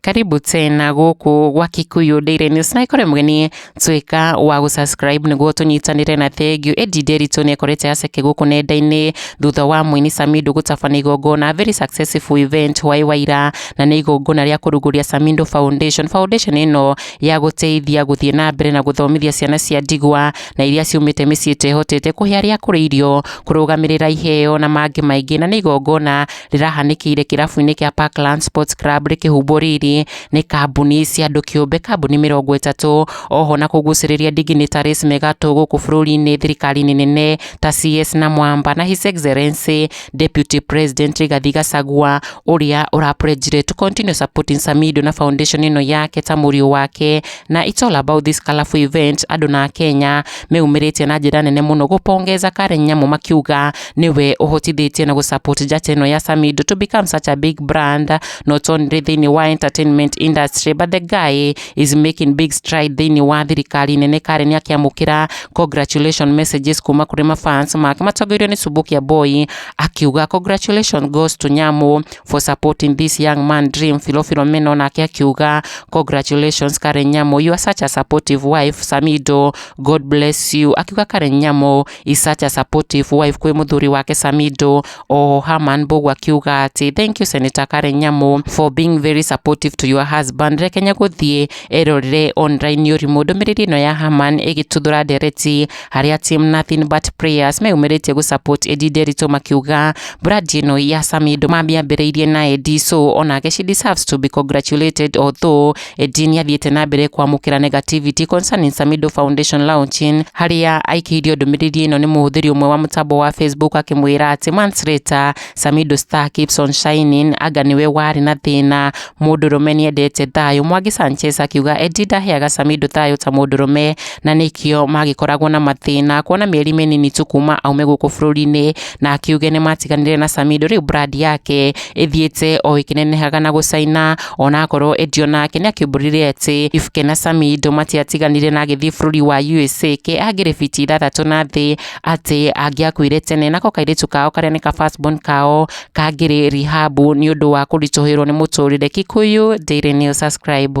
karibu tena guku gwa kikuyu daily news na ikore mgeni twika wa gusubscribe niguo tunyitanire na thengiu edi nderitu ni ekorete aceke guku nenda-ini thutha wa mwini samindo gutabana igongona very successful event hwaĩ waira na nĩ igongona rĩa kũrugũria samindo foundation foundation ĩno ya gũteithia gũthiĩ na mbere na gũthomithia ciana cia ndigwa na iria ciumĩte mĩciĩ ĩtehotete kũhe arĩa akũrũ irio, kũrũgamĩrĩra iheo na mangĩ maingĩ na nĩ igongona rĩrahanĩkĩire kĩrabu-inĩ kĩa Parkland Sports Club rĩkĩhumbwo riri nĩ kambuni cia andũ kĩũmbe kambuni mĩrongo ĩtatũ oho na kũgucĩrĩria dignitaries megatũ gũkũ bũrũri-inĩ thirikari-inĩ nene ta CS na Mwamba na His Excellency Deputy President Rigathi Gachagua ũrĩa ũra pledge to continue supporting Samido na foundation ĩno yake ta mũriũ wake Na it's all about this colorful event, andũ na Kenya meyumĩrĩtie na njĩra nene mũno gũpongeza Karen Nyamu makiuga nĩwe ũhotithĩtie na gũsupport njata ĩno ya Samido to become such a big brand not only thĩinĩ wa entertainment industry but the guy is making big stride thĩinĩ wa thirikari nene Karen akĩamũkĩra congratulation messages kuma kũrĩ mafans make matongoirio nĩ Subukia Boy akiuga congratulations goes to Nyamu for supporting this young man dream Philo Philomeno nake akiuga congratulations Karen Nyamo you are such a supportive wife Samido God bless you akiuga Karen Nyamo is such a supportive wife kwĩ mũthuri wake Samido o Haman Mbogu akiuga atĩ thank you Senator Karen Nyamo for being very supportive to your husband rekenya gũthiĩ erorere online ũrimũ ndũmĩrĩri ĩno ya Haman ĩgĩtuthũra ndereti Arĩa team nothing but prayers meyumĩrĩtie gũsupport Edi Nderitũ makiuga brand ĩno ya Samido mamĩambĩrĩirie na Edi so onake she deserves to be congratulated although Edi nĩathiĩte na mbere kwamũkĩra negativity concerning Samido Foundation launching harĩa aikĩirio ndũmĩrĩri ĩno nĩ mũhũthĩri ũmwe wa mũtambo wa Facebook akĩmwĩra atĩ months later Samido star keeps on shining anga nĩwe warĩ na thĩna Mũndũrũme nĩendete thayũ, Mwangi Sanchez akiuga Eddie ndaheaga Samido thayũ ta mũndũrũme na nĩkĩo magĩkoragwo na mathĩna kuona mĩeri mĩnini tu kuma aume gũkũ bũrũri-inĩ na akiuge nĩmatiganire na Samido rĩu brand yake ĩthiĩte o ĩkĩnenehaga na gũcaina onakorwo Eddie onake nĩakĩumbũrire atĩ Ifuke na Samido matiatiganire na agĩthiĩ bũrũri wa USA ke angĩrĩ biti ithathatũ na thĩ atĩ angĩakuire tene nako kairĩtu kao karĩa nĩ ka first born kao kangĩrĩ rehab nĩ ũndũ wa kũritũhĩrwo nĩ mũtũrĩre. Kikuyu Daily News Subscribe.